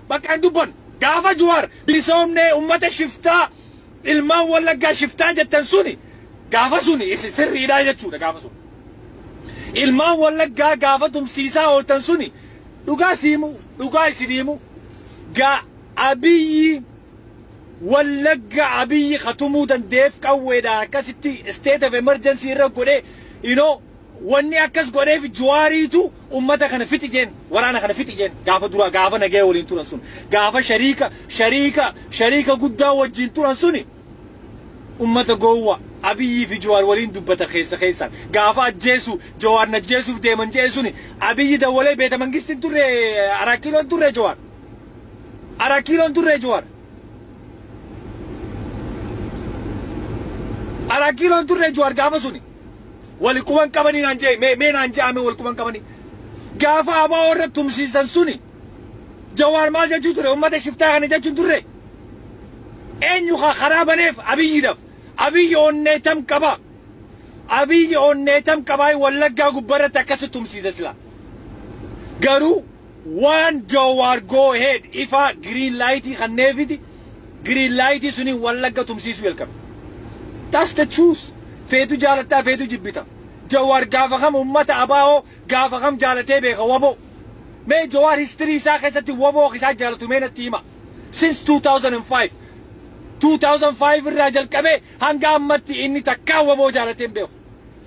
Bakka hin dubbannu. Gaafa Juwaar bilisoomnee ummata shiftaa ilmaan wallaggaa shiftaa jettan suni gaafa suni isin sirriidhaa jechuudha gaafa sun. Ilmaan wallaggaa gaafa tumsiisaa ooltan suni dhugaa siimu dhugaa isiniimu gaa abiyyi wallagga abiyyi katumuu dandeef qawweedhaan akkasitti state of emergency irra godhee you know Wanni akkas godheef Juwaariitu ummata kana fixi jeen, waraana kana fixi jeen, gaafa duraa, gaafa nagaya waliin turan sun, gaafa shariika, shariika, shariika guddaa wajjiin turan suni, ummata gowwa, Abiyii fi Juwaar waliin dubbata keessa keessaan, gaafa ajjeesu, Jawaar na ajjeesuuf deeman je'e suni, Abiyyi dawwalee Beeta Mangisti hin turre, Araat Kiiloo hin turre Jawaar? Araat Kiiloo hin turre Jawaar? Araat Kiiloo hin turre Jawaar gaafa suni? Wali quban qabani naan jai mee mee naan jaame wal quban qabani gaafa abo irra tumsiisan suni jawaar maal jechuu ture ummata shiftaa kana jechuun turre eenyu ka karaa baneef abiyyidhaf abiyyi onnee tam qaba abiyyi onnee tam qabaa wallaggaa gubbarratti akkasi tumsiisa sila garuu Waan Jawaar go ahead, ifaa, green light, kanneefiti, green light suniin Wallagga tumsiisuu jalqabe. That's the truth. Feetu jaalatta, feetu jibbita. Jawaar gaafa kam ummata abo gaafa kam jaalatee beeka wbo? Mee Jawaar history isaa keessatti wbo akka isaan jaalatu mee natti himaa. Since 2005, 2005 irraa jalqabee hanga ammatti inni takkaa wbo jaalatee hin beeku.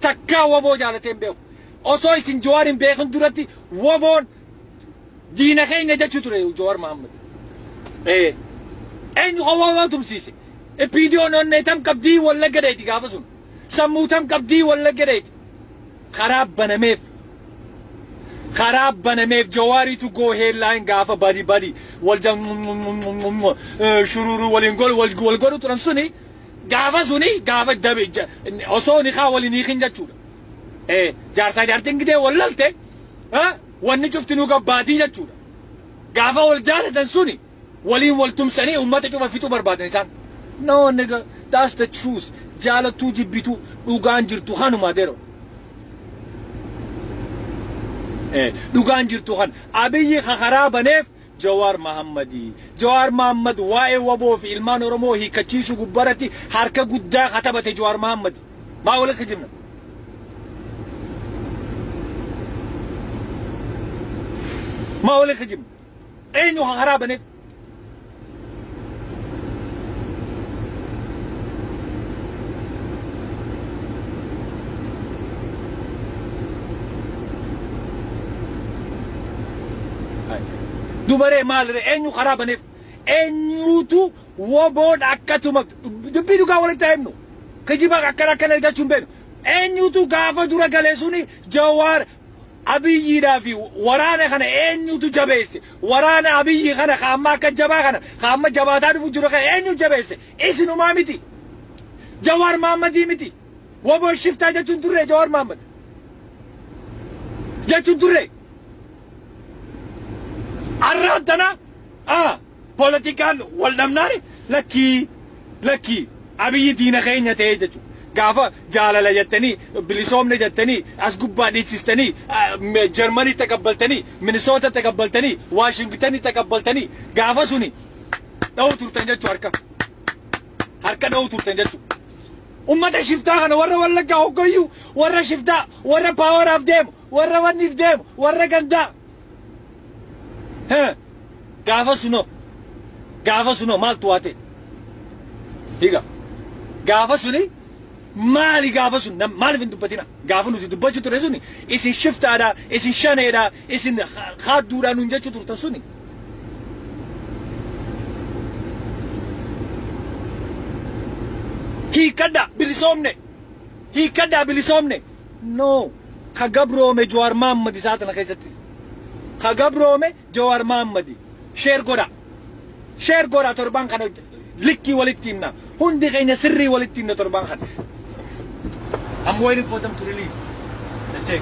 Takkaa wbo jaalatee hin beeku. Osoo isin Jawaar hin beekin duratti woboon diina keenya jechuu ture Jawaar Mahammad. Ee. Eenyu kan woboo tumsiise? Ippiidiyoon onnee tam qabdii wallagga dheeti gaafa sun. Sammuu tam qabdii wallagga dheeti. Karaa banameef. Karaa banameef Jawaariitu go headline gaafa badi badi walda shururuu waliin gol wal wal godhu turan suni gaafa suni gaafa dabe osoo nikaa waliin hiikin jechuudha. eh, jaarsaa jaartiin gidee wal lalte eh, wanni cuftinuu gabbaatii jechuudha. Gaafa wal jaalatan suni waliin wal tumsanii uummata cufa fixuu barbaadan isaan. No nigga, that's the truth. Jaalattuu jibbituu dhugaan jirtu kanuma dero. Eh, dhugaan jirtu kan abiyyi ka karaa baneef Jawaar Mahammadi. Jawaar Mahaammad waa'ee wbo fi ilmaan Oromoo hiikkachiisuu gubbaarratti harka guddaa ka taphate Jawaar Mahaammadi. Maa wal kijibna? Maa wal kijibna? Eenyu ka karaa baneef? Dubaree maaliree eenyu karaa baneef eenyuutu woboodha akkatuma dubbii dhugaa walitti haa himnu kijiba akkana akkana eeggachuu hin beeknu eenyuutu gaafa dura galee suni jawaar Abiyyiidhaa fi waraana kana eenyutu jabeesse? Waraana Abiyyi kana ka amma akka jabaa kana, ka amma jabaataa dhufu jiru kana eenyu jabeesse? Isinumaa miti? Jawaar Maammadii miti? Wbo shiftaa jechuu hin turree Jawaar Maammad? Jechuu hin turree? Arraan tana a. Polotikaan wal dhabnaan lakkii lakkii Abiyyi diina keenya ta'ee jechu gaafa jaalala jettanii bilisoomne jettanii as gubbaa dhiichistanii Germany taqabbaltanii Minnesota taqabbaltanii Washington taqabbaltanii gaafa suni dha'u turtan jechu harka harka dha'u turtan jechu ummata shiftaa kana warra wallaggaa hoggayyuu warra shiftaa warra power of deemu warra wanniif deemu warra gandaa He gaafa sunoo gaafa sunoo maaltu waa ta'e higa gaafa suni maali gaafa sun nam- maaliif hin dubbatina gaafa nuti dubbachuu ture suni isin shiftaadha isin shaneedha isin ha- haadduudha nuun jechuu turtan suni hiikkadha bilisoomne hiikkadha bilisoomne No. Ka gabroome Jawaar Mahaammadi sa'a tana keessatti. Ka gabroome Jawaar Mahaammadi. Share godhaa. Share godhaa torbaan kana likkii walitti himna. Hundi keenya sirrii walitti himna torbaan kana. I'm waiting for them to release the check.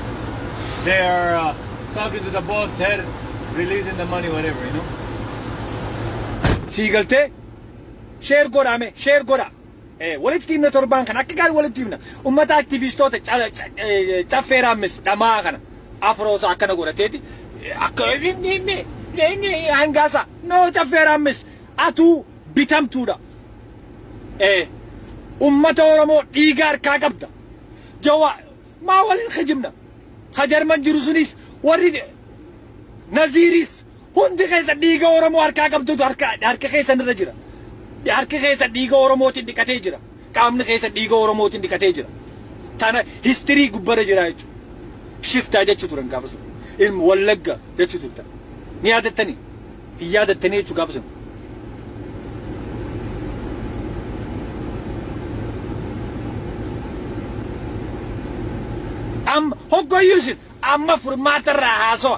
They are uh, talking to the boss, head, releasing the money, whatever, you know. Sii galtee? Share godhaa mee. Share godhaa. Ee walitti himna torbaan kana akka gaarii walitti himna ummata aktivistoota caffee raammes dhamaa kana afroosa akkana godhateeti akka inni inni inni hangaasa no caffee raammes atuu bitamtuudha ee ummata oromoo dhiiga harkaa qabda jawa maa waliin kijibna ka jarman jiru sunis warri naziiris Hundi keessan dhiiga Oromoo harkaa qabdutu harka harka keessan irra jira. Harki keessan dhiiga Oromootiin dhiqatee jira. Qaamni keessan dhiiga Oromootiin dhiqatee jira. Tana histirii gubbara jira jechuudha. Shiftaa jechuu turan gaafa sun. Ilma Wallagga jechuu turtan. Ni yaadattanii? Hin yaadattanii jechuu gaafa sun. Amma hoggoyyuu isin amma furmaata irraa haasawa.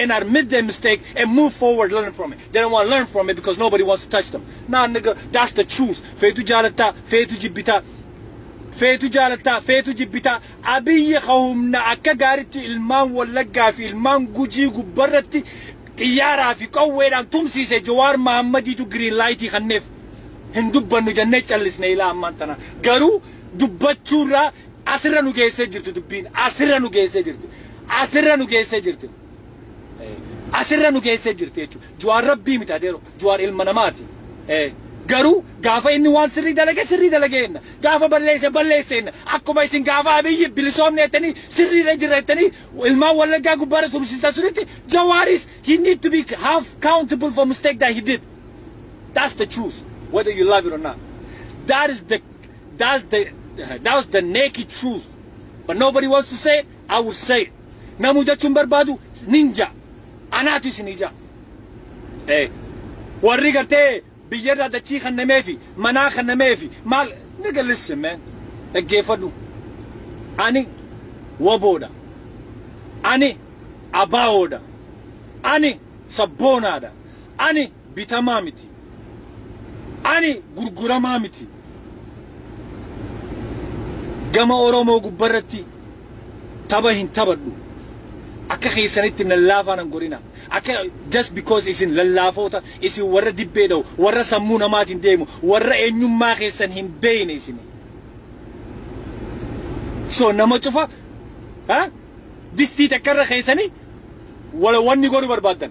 and admit their mistake and move forward learn from it they don't want to learn from it because nobody wants to touch them nah nigga that's the truth feetu jaalatta feetu jibbita feetu jaalatta feetu jibbita abiyyi ka humna akka gaaritti ilmaan wallaggaa fi ilmaan gujii gubbarratti xiyyaaraa fi qawweedhaan tumsiise jawaar mahammadiitu giriin laayitii kanneef hin dubbannu jennee callisne ilaa ammaan tana garuu dubbachuurraa Asirra nu geessee jirti dubbiin. Asirra nu geessee jirti. Asirra nu geessee jirti. Eh, Asirra nu geessee jirti jechuudha. Juwaar rabbii miti adeero. Juwaar ilma namaati. Eh, Garuu gaafa inni waan sirrii dalage sirrii dalage jenna. Gaafa balleesse balleesse jenna. Akkuma isin gaafa abiyyi bilisoomne jettanii sirriirra jirra jettanii ilmaan wallaggaa gubbaarra tumsiistan sunitti Jawaaris he need to be half countable for mistake that he did. That's the truth, whether you love it or not. That is the That's the that was the naked truth. But nobody wants to say it. I will say it. Namu jechuun barbaadu ninja. Anaatu isin ija. Eh. Warri gartee biyyarraa dachii kan nameefi manaa kan nameefi maal nigga listen man. Dhaggeeffadhu. Ani waboodha. Ani abaawoodha. Ani sabboonaadha. Ani bitamaa miti. Ani gurguramaa miti. Gama Oromoo gubbarratti taba hin tabadhu. Akka keessanitti nan laafaa nan godhina. Akka just because isin lallaafoota, isin warra dibbee dha'u, warra sammuu namaatiin deemu, warra eenyummaa keessan hin beeyne isin. So nama cufa ha? distii takkarra keessanii wala wanni godhu barbaaddan.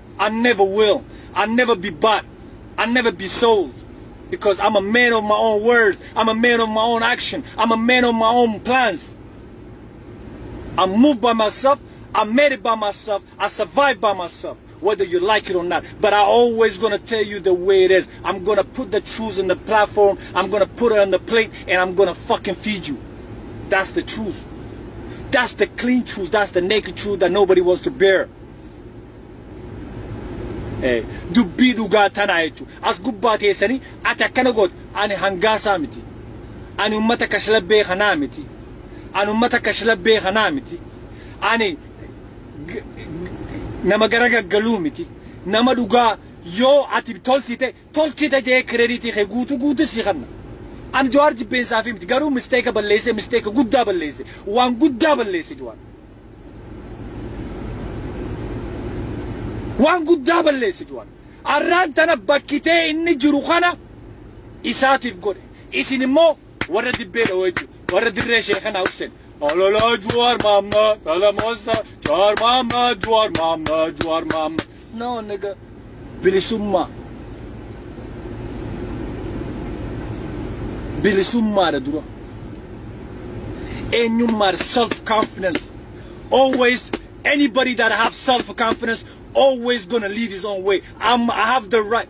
I never will, I never be bought, I never be sold because I'm a man of my own words, I'm a man of my own action, I'm a man of my own plans. I move by myself, I made it by myself, I survived by myself, whether you like it or not. But I always gonna tell you the way it is. I'm gonna put the truth in the platform, I'm gonna put it on the plate, and I'm gonna fucking feed you. That's the truth. That's the clean truth, that's the naked truth that nobody wants to bear. dubbii dhugaa tanaa jechuun as gubbaa teessanii ati akkana goote ani hangaasaa miti ani ummata kashlabbee kanaa miti ani ummata kashlabbee kanaa miti ani nama gara gaggaluu miti nama dhugaa yoo ati tolchite tolchita jee credit kee guutu guutu sii kanna an jawaar jibbeensaafii miti garuu mistake balleesse mistake guddaa balleesse waan guddaa balleesse jawaar waan guddaa balleesse jawaar arraan tana bakkitee inni jiru kana isaatiif godhe isin immoo warra dibbee dhawoo jechuudha warra dirree sheekanaa hussen ololoo jawaar maammaa dhala moossa jawaar maammaa jawaar maammaa jawaar maammaa Nawa naga bilisummaa bilisummaadha dura eenyummaadha self confidence always anybody that have self confidence always gonna lead his own way I'm, I have the right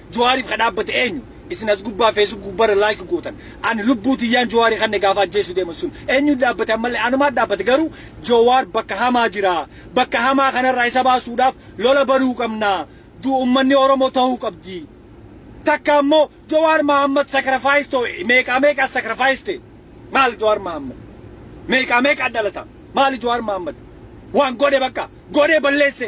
Jowaariif ka dhaabbate eenyu? Isin as gubbaa Facebook gubbarra like gootan. Ani lubbuu tiyyaan Jowaari kanne gaafa ajjeesuu deeman sun eenyutu dhaabbate ammallee anumaat dhaabbate garuu Jowaar bakka hamaa jira. Bakka hamaa kanarraa isa baasuudhaaf lola banuu qabna. Du ummanni Oromoo tahuu qabdi. Takka ammoo Jowaar Mahaammad sacrifice to meeqaa meeqa as sacrifice ta'e. Maal Jowaar Mahaammad? Meeqaa meeqa dhalata? Maali Jowaar Mahaammad? Waan godhe bakka godhee balleesse.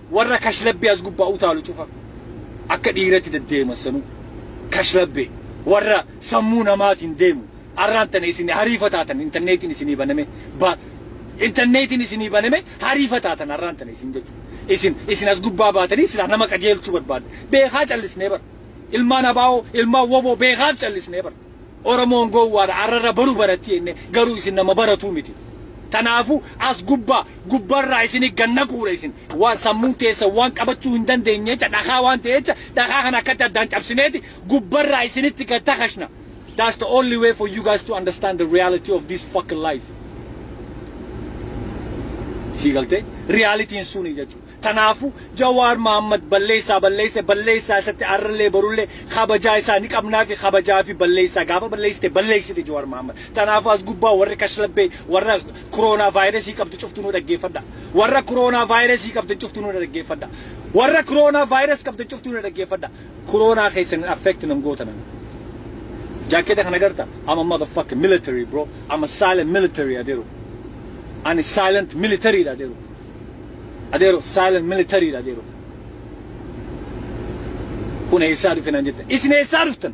Warra kashlabbee as gubbaa utaalu cufa akka dhiiratti deddeeman sanuu kashlabbee warra sammuu namaatiin deemu arraan tana isin hariifataatan intarneetiin isinii baname ba intarneetiin isinii baname hariifataatan arraan tana isin jechuudha. Isin isin as gubbaa baatanii silaa nama qajeelchuu barbaadda. Beekaa callisnee bara. Ilmaan abaa'oo ilmaan woboo beekaaf callisnee bara. Oromoon gowwaadha arrarra baru baratti jenne garuu isin nama baratuu miti. Tanaafu as gubbaa gubbarraa isini gad naquudha isin waan sammuun teessan waan qabachuu hin dandeenyeecha dhakaa waan ta'eecha dhakaa kana akkatti addaan cabsineeti gubbarraa isinitti gad takashna. That's the only way for you guys to understand the reality of this fucking life. Sii galtee? Realitiin suni jechuu. Tanaafu Jawaar Mahammad balleessaa balleesse balleessaa isatti arrallee borullee kabajaa isaa ni qabnaafi kabajaafi balleessaa gaafa balleessite balleessite Jawaar Mahammad. Tanaafu as gubbaa warri kashlabbee warra Kuroonaa vaayirasii qabdu cuftu nu dhaggeeffadha. Warra Kuroonaa vaayirasii qabdan cuftu nu dhaggeeffadha. Warra Kuroonaa vaayirasii qabdan cuftu nu dhaggeeffadha. Kuroonaa keessan hin affect nan goota nan. Jaakkeeta kana garta I'm a motherfucking military bro. I'm a silent military adeero. Ani silent military dha adeero. Adeero silent military dha adeero. Kun eessaa dhufe naan jettan. Isin eessaa dhuftan?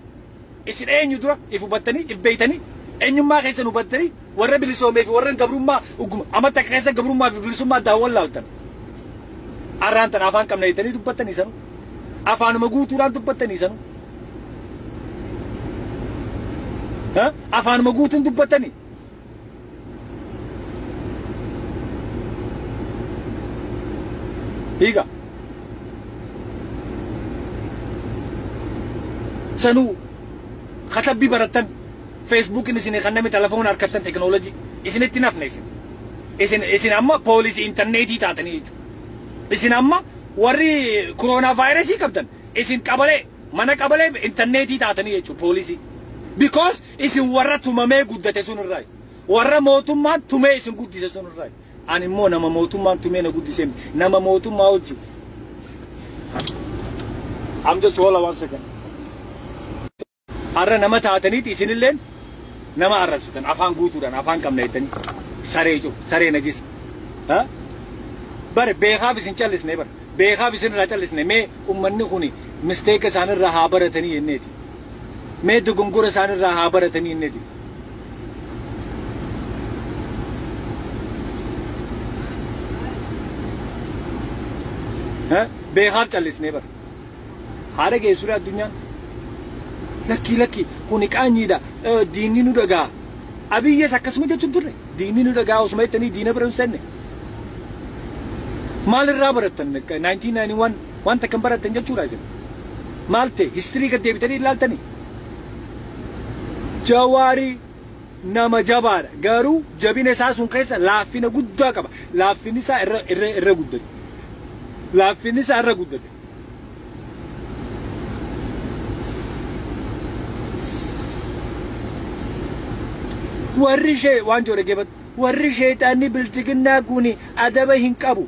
Isin eenyu dura if hubattanii if beeytanii eenyummaa keessan hubattanii warra bilisoomee fi warra gabrummaa ugguma amma takka keessa gabrummaa fi bilisummaa addaan wallaaltan. Arraan tan afaan qabna jettanii dubbattanii sanu. Afaanuma guutuudhaan dubbattanii sanu. Ha? Afaanuma guutuun dubbattanii. hiika sanuu katabbii barattan feesbuukiin isin kanname telefoona harkattan teknoolojii isinitti hin hafne isin isin isin amma poolisii intarneetii taatanii jechuudha isin amma warri koroonaa vaayirasii qabdan isin qabalee Mana qabalee interneetii taatanii jechuudha poolisii. Because isin warra tumamee guddate sun irraayi. Warra mootummaan tumee isin guddise sun irraayi. Ani immoo nama mootummaan tumee na guddisee miti. Nama mootummaa wajjin. I'm just hold on one second. Har'a nama taataniiti isinilleen nama arrabsitan afaan guutuudhaan afaan qabna jettanii saree cufa saree najisa ha bare beekaaf isin callisne bar beekaaf isin irraa callisne mee ummanni kuni misteeka isaan irraa haa baratanii jenneeti mee dogongora isaan irraa haa baratanii jenneeti ha beekaaf callisne bar Haa dhageessuree addunyaan? Lakkii lakkii kuni qaanyiidha diinni nu dhaga'a. Abiyyes akkasuma jechuun turre diinni nu dhaga'a osuma jettanii diina bira hin seenne. Maal irraa barattan 1991 waan takkan barattan jechuudha isin. Maal ta'e histirii gad deebitanii ilaaltanii? Jawaarii nama jabaadha. Garuu jabina isaa sun keessa laaffina guddaa qaba. Laaffinni isaa irra irra irra guddate. Laaffinni isaa irra guddate. Warri ishee waan jedhu dhaggeeffadhu. Warri sheexaanni bilchiginnaa kun adaba hin qabu.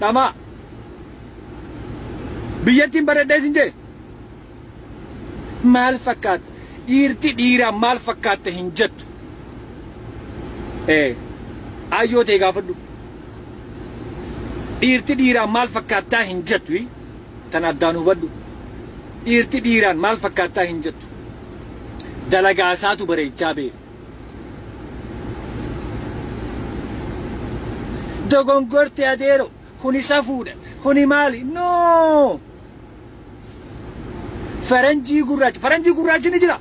dhamaa biyyattiin bareeddee isin jee maal fakkaatta dhiirti dhiiraa maal fakkaatta hin jettu ee ayyoo tee gaafadhu dhiirti dhiiraa maal fakkaattaa hin jettu hii? tan addaan hubadhu dhiirti dhiiraan maal fakkaattaa hin jettu dalagaa isaatu bareechaa beeka dogongorte adeero kuni safuudha kuni maali no faranjii gurraacha faranjii gurraachi ni jira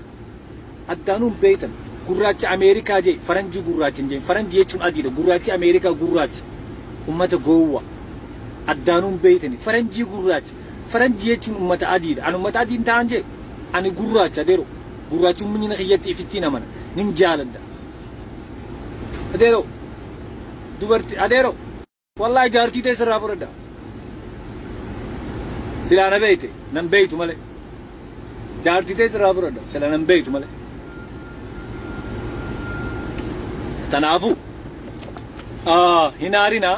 addaanuun beeytan gurraacha ameerikaa jee faranjii gurraacha hin jeen faranjii jechuun adiidha gurraachi ameerikaa gurraacha ummata goowwa addaanuun beeytani faranjii gurraacha Faranji jechuun ummata adiidha. Ani ummata adii hin ta'an jee? Ani gurraacha Dero. Gurraachumminyina kiyyatti ifittiin amana. Nin jaaladha. Adero. Dubarti Adero. Wallahi jaartii tee sirraa fudhadha. Silaa na beeyte nan beeytu malee. Jaartii tee sirraa fudhadha. Sila nan beeytu malee. Tanaafuu. Ah, hin aarinaa.